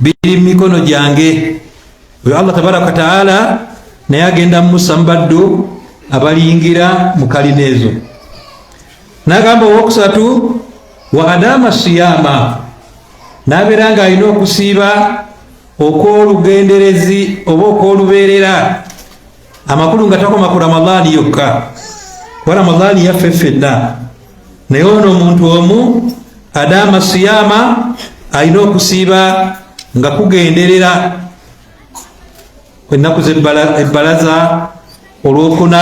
biri mu mikono gyange oyo allah tabaraka wataala naye agenda musa mubaddu abalingira mu kalina ezo nagamba owokusatu wa adama siyama nabeera nga alina okusiiba okwolugenderezi oba okwolubeerera amakulu nga takoma ku ramadaani yokka kuba ramadaani yaffe ffenna naye ono omuntu omu adaama siyaama alina okusiiba nga kugenderera ennaku zebbalaza olwokuna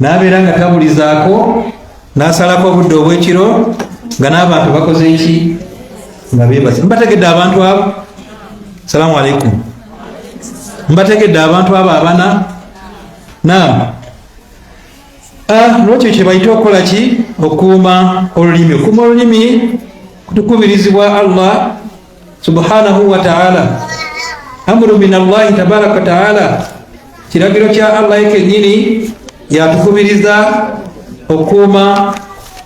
n'abeera nga tabulizaako n'asalako obudde obw'ekiro nga n'abantu bakoze ki nga beebase mbategedde abantu abo salaamu aleikum mbategedde abantu abo abana naam ah, nolwekyo kyebayite okukola ki okukuuma olulimi okukuuma olulimi tukubirizibwa allah subhanahu wa ta'ala amuru min allahi tabaraka wataala kiragiro kya allah ye kennyini yatukubiriza okukuuma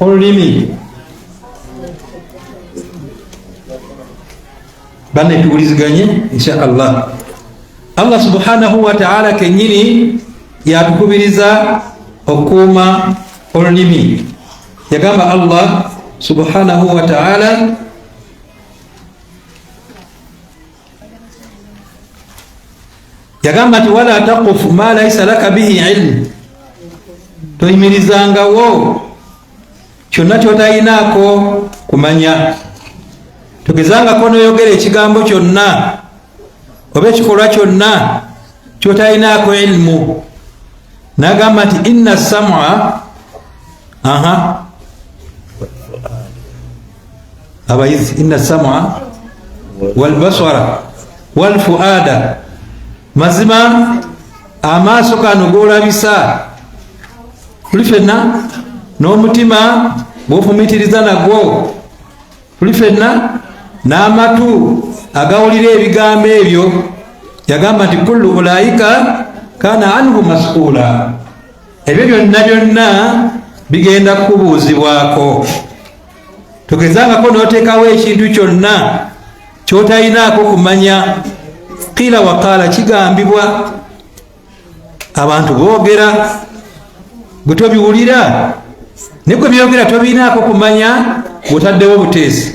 olulimi banne tuwuliziganye insha allah allah subhanahu wataala kennyini yatukubiriza okukuuma olulimi yagamba allah subhanahu wataala yagamba nti wala takufu ma laisa laka bihi ilmu toyimirizangawo kyonna kyotayinaako kumanya togezangako noyogera ekigambo kyonna oba ekikolwa kyonna kyotayinaako ilmu nagamba nti inna samua aha abayizi inna sama walbasara walfuada mazima amaaso kano golabisa tuli fenna n'omutima gwofumitiriza nagwo tuli fenna n'amatu agawulira ebigambo ebyo yagamba nti kullu ulaika kana anhu masuula ebyo byonna byonna bigenda kubuuzibwako togezangako notekawo ekintu kyonna kyotalinaako kumanya kila wakaala kigambibwa abantu boogera gwe tobiwulira negwe byogera tobinaako kumanya bwotaddewo buteezi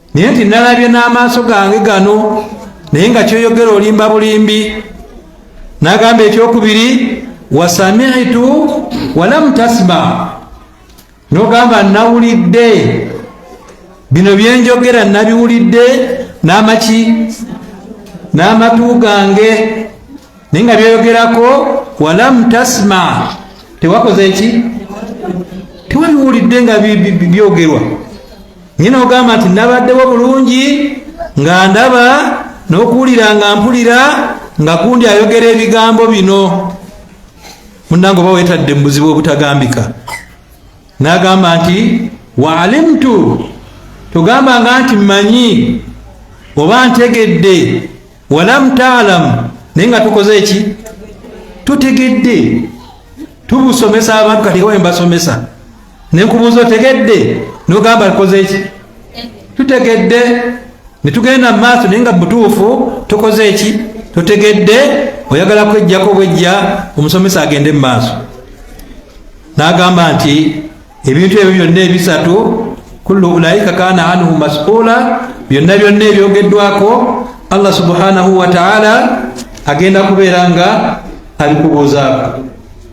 naye nti nalabye n'amaaso gange gano naye nga kyoyogera olimba bulimbi nagamba ekyokubiri wasamitu walam tasma nogamba nawulidde bino byenjogera nabiwulidde n'amaki n'amatu gange naye nga byoyogerako walam tasma tewakoze ki tewabiwulidde nga byogerwa bi, bi, bi, bi, bi, bi, bi, bi, bi, bi, bi, nyina ogamba nti nabaddewo bulungi nga ndaba n'okuwulira nga mpulira nga kundi ayogera ebigambo bino munange oba wetadde mu buzibu obutagambika n'agamba nti waalimtu togambanga nti mmanyi oba ntegedde walam taalamu naye nga tukoze eki tutegedde tubusomesa abantu kati ewa embasomesa nenkubuuza otegedde nogamba likozeeki tutegedde netugenda mumaaso naye nga butuufu tokoze eki totegedde oyagala kwejjako bwejja omusomesa agende mumaaso nagamba nti ebintu ebyo byonna ebisatu kullu ulaika kana anhu masula byonna byonna ebyogeddwako allah subhanahu wataala agenda kubeera nga abikubuuzaako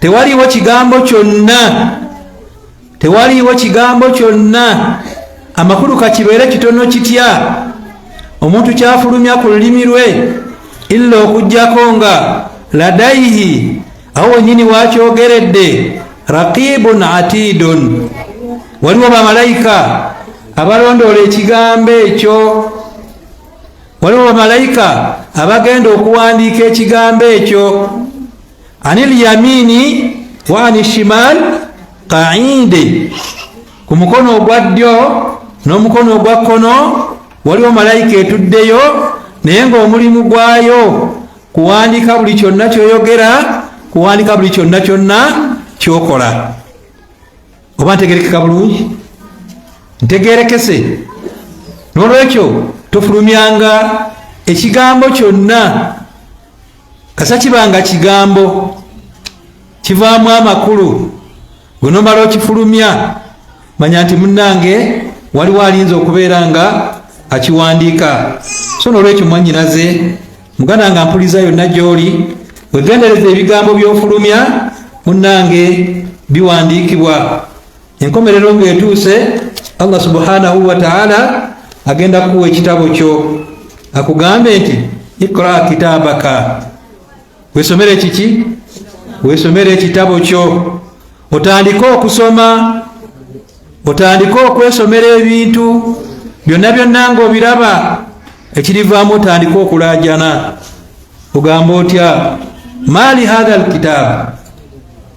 tewaliwo kigambo kyonna tewaliwo kigambo kyonna amakulu kakibeere kitono kitya omuntu kyafulumya ku lulimi lwe illa okugyako nga ladaihi awo wenyini wakyogeredde raqibun atidun waliwo bamalayika abalondoola ekigambo ekyo waliwo bamalayika abagenda okuwandiika ekigambo ekyo anil yamini wa ani shimal qaide ku mukono ogwa ddyo n'omukono ogwa kkono waliwo malayika etuddeyo naye ng'omulimu gwayo kuwandiika buli kyonna kyoyogera kuwandiika buli kyonna kyonna kyokola oba ntegerekeka bulungi ntegerekese n'olwekyo tofulumyanga ekigambo kyonna kasa kiba nga kigambo kivaamu amakulu wenomala okifulumya manya nti munange waliwo alinza okubeera nga akiwandiika so nolwekyo mwanyinaze muganda nga mpuliza yonna gyoli wegendereza ebigambo byofulumya munange biwandiikibwa enkomerero ng'etuuse allah subhanahu wataala agenda kukuwa ekitabo kyo akugambe nti ikra kitabaka wesomere kiki wesomere ekitabo kyo otandike okusoma otandike okwesomera ebintu byonna byonna ngaobiraba ekirivaamu otandike okulajana ogamba otya maali hatha lkitaabu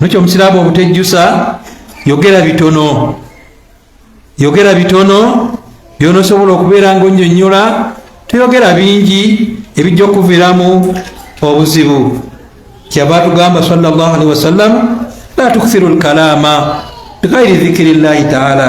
nokyo omusiraamu obutejjusa yogera bitono yogera bitono byonosobola okubeera nga onyonyola toyogera bingi ebijja okuviramu obuzibu kyava atugamba salllah alihi wasallam la tukthiru lkalaama bighairi dhikiri llahi taala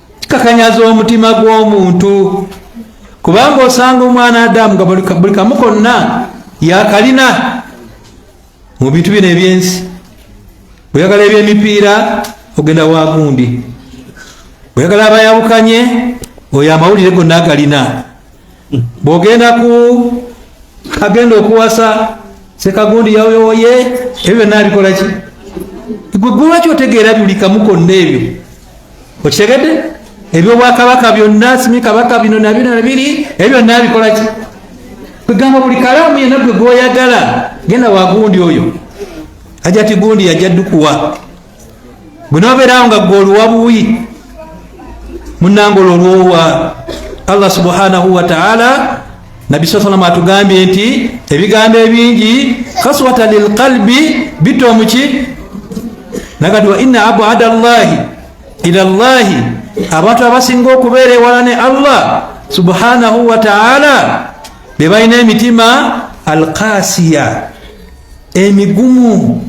kikakanyaza omutima gw'omuntu kubanga osanga omwana adamu nga buli kamu konna yakalina mu bintu bino ebyensi bweyagala ebyemipiira ogenda wagundi bweyagala abayawukanye oyo amawulire gonna agalina bwogenda ku agenda okuwasa sekagundi yawoyowoye ebyo byonna abikolaki gwe gwewaki otegeera buli kamu konna ebyo okitegedde ebyobwakabaka byonna simi kabaka bino nabino nabiri ebyo byonna abikolaki kwegamba buli kalaamu yena gwe gwoyagala genda wagundi oyo aja ti gundi yaja dukuwa bwenobeerawo nga gwe oluwa buwi munange olwo olwowa allah subhanahu wataala nabbi saa salama atugambye nti ebigambo ebingi kaswata lilqalbi bitta omuki nagati wa ina abada llahi ila llahi abantu abasinga okubeera ewala ne allah subhanahu wataala bebalina emitima alkasiya emigumu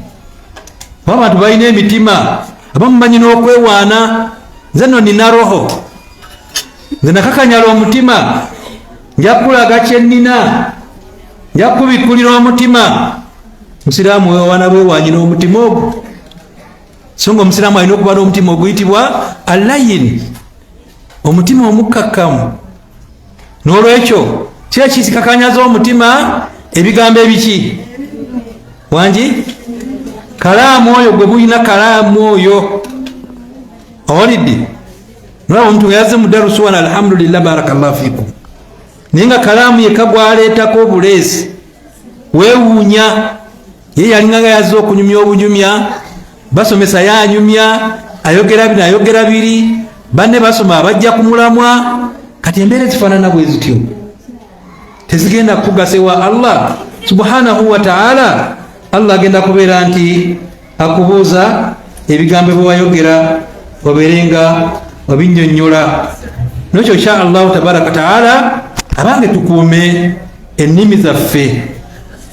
oba abantu balina emitima abamumanyi n'okwewaana nze no nina roho nze nakakanyala omutima njakulaga kyenina njakubikkulira omutima musiraamu wewaana bwewanyi n'omutima ogwo so nga omusiraamu alina okuba n'omutima oguyitibwa alayin omutima omukkakkamu n'olwekyo kira kisikakanyaza omutima ebigambo ebiki wangi kalaamu oyo gwe bulina kalaamu oyo owalidde nolaba omuntu weyaze mudarusuwana alhamdulillah barakallahu fikum naye nga kalaamu yekagwaleetako obuleesi wewuunya ye yalinga nga yazze okunyumya obunyumya basomesa ye anyumya ayogera bino ayogera biri banne basoma abajja ku mulamwa kati embeera ezifaanana bwe zityo tezigenda kukugasa ewa allah subhanahu wataala allah agenda kubeera nti akubuuza ebigambo byewayogera obeere nga obinyonyola nokyo insha allahu tabaraka wataala abange tukuume ennimi zaffe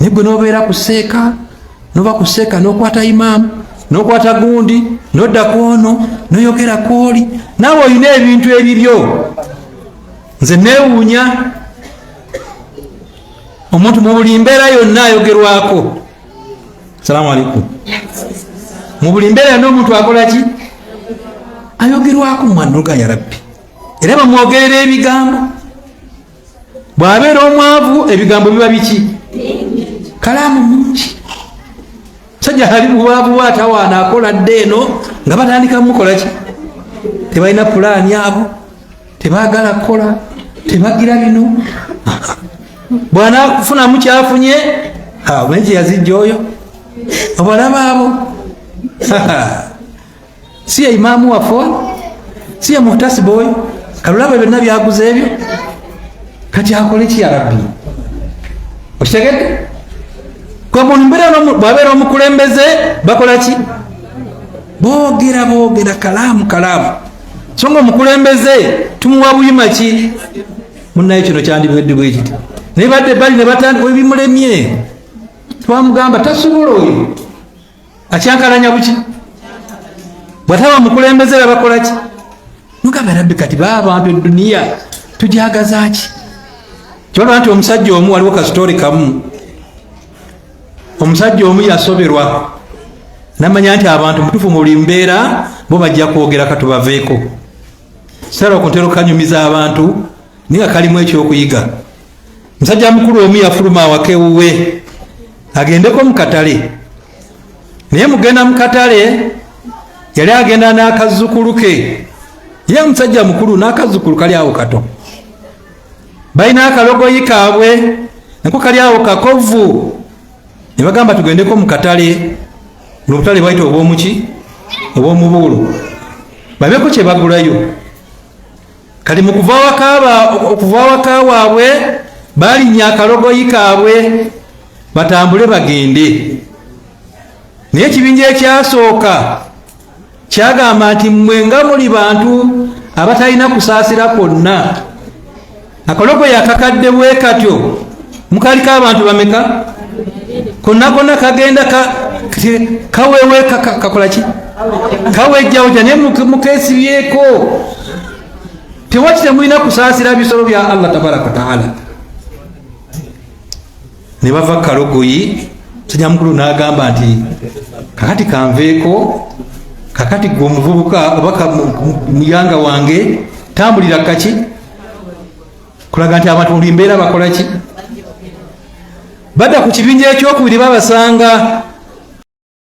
naye gwe nobeera ku seeka noba ku seeka nokwata imaamu nokwata gundi nodda kwono noyogera kwoli naawe olina ebintu ebibyo nze newuunya omuntu mu buli mbeera yonna ayogerwako salaamu aleikum mu buli mbeera yonna omuntu akola ki ayogerwako mwanulga ya rabbi era bamwogerera ebigambo bw'abeera omwavu ebigambo biba biki kalaamu nyingi sajja ali bubaavu bwatawaana akola dde eno nga batandika mukola ki tebalina pulaani abo tebagala kukola tebagira bino bwanafunamu kyafunye naye kyeyazijja oyo obalaba abo si ye imaamu waffe oyo si ye muhtasiba oyo kalulaba byonna byaguza ebyo kati akole ki yarabbi okitegedde bwabeera omukulembeze bakola ki boogera boogera kalaamu kalaamu so nga omukulembeze tumuwa buyima ki munaye kino kyandibwedde bwekiti naye badde bali nebatandika ebimulemye twamugamba tasobola oyo akyankalanya buki bwataba mukulembeze babakolaki mugamba rabbi kati ba abantu eduniya tujagazaki kibalaba nti omusajja omu waliwo kasitoori kamu omusajja omu yasoberwa namanya nti abantu mutufu mu buli mbeera bo bajja kwogera katubaveeko sara okuntera okukanyumiza abantu naye nga kalimu ekyokuyiga musajja mukulu omu yafuluma awaka ewuwe agendeko mukatale naye mugenda mukatale yali agenda n'akazzukulu ke ye musajja mukulu n'akazzukulu kali awo kato balina akalogoyi kaabwe nako kali awo kakovu ne bagamba tugendeko mu katale nobutale bwaita obwomuki obwomubuulo babeko kyebagulayo kati mu kuva awaka waabwe balinnya akalogoyi kaabwe batambule bagende naye ekibinja ekyasooka kyagamba nti mmwe nga muli bantu abatalina kusaasira kwonna akalogoyi akakadde bwe katyo mukaliko abantu bameka konakona kagenda kaweweka kakolaki kawejjawja naye mukesibyeko tewaki temulina kusaasira bisolo bya allah tabaraka wataala ne bava kalogoyi sajja mukulu n'agamba nti kakati kanveeko kakati gwe omuvubuka oba muyanga wange tambulira kaki kulaga nti abantu buli mbeera bakola ki badda ku kibinja ekyokubiri babasanga